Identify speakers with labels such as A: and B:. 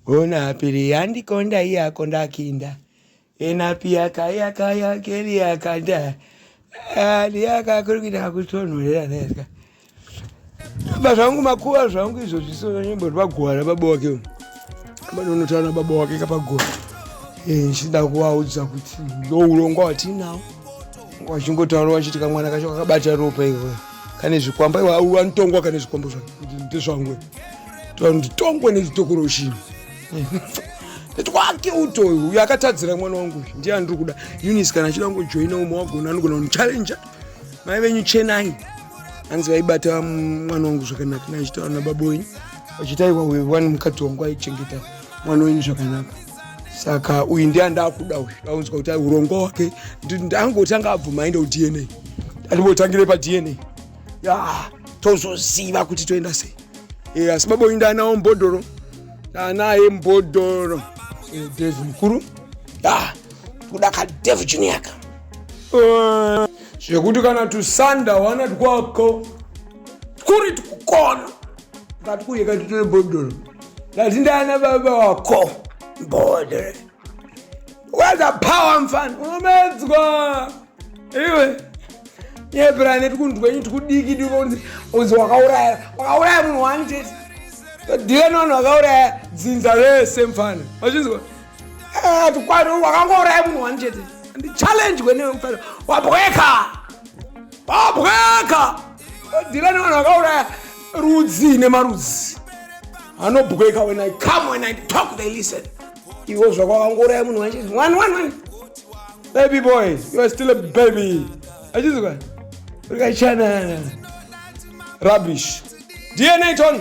A: Unapiri andikonda iye akonda akinda enapiya kaya kaya keri yakanda ndiyaka kuri kuita kutonhorera nezva ba zvangu makuva zvangu izvo zvisonyemboti bagwara baba wake uno banonotaura na baba wake kapagora eh, ndichida kuvaudza kuti ndo urongwa watinawo wachingotaura wachiti kamwana kacho kakabata ropa iwe kane zvikwamba iwe anotongwa kane zvikwambo zvangu ndezvangu nditongwe nechitokoroshini ndati wake uto uyu uyu akatadzira mwana wangu uyu ndiye andiri kuda unis kana achida kungojoina umwe wagona anogona kundichallenja mai venyu chenai hanzi vaibata mwana wangu zvakanaka naichitaura nababa wenyu vachitaiwa uyu wani mukadzi wangu aichengeta mwana wenyu zvakanaka saka uyu ndiye andakuda uyu aunzwa kuti urongwa hwake ndangotanga abvuma aenda kudna ndandimotangire padna yeah, tozoziva kuti toenda sei e, asi baba uyu ndaanawo mbodhoro ndaanaye mbodhoro e, eh, devi mukuru yeah, kuda kadevi juniaka uh, zvekuti kana tusanda wana twako kuri tukukona ngati kuye kati tine mbodhoro ndati ndaana baba wako mbodhoro waza power mfana unomedzwa iwe yebrane tikunzwa inyi tikudiki dikonzi unzi wakauraya wakauraya munhu wani chete ndiwe nonhu wakauraya dzinza rese mfana wachinzwa eh, tikwani wakangouraya munhu wani chete ndichallenge kwenewe mfana wabweka wabweka ndiwe nonhu wakauraya rudzi nemarudzi anobweka when i come when i talk they listen iwo zvako wakangouraya munhu wacho one one one baby boy you are still a baby achizwa urikachanana rubbish dna tony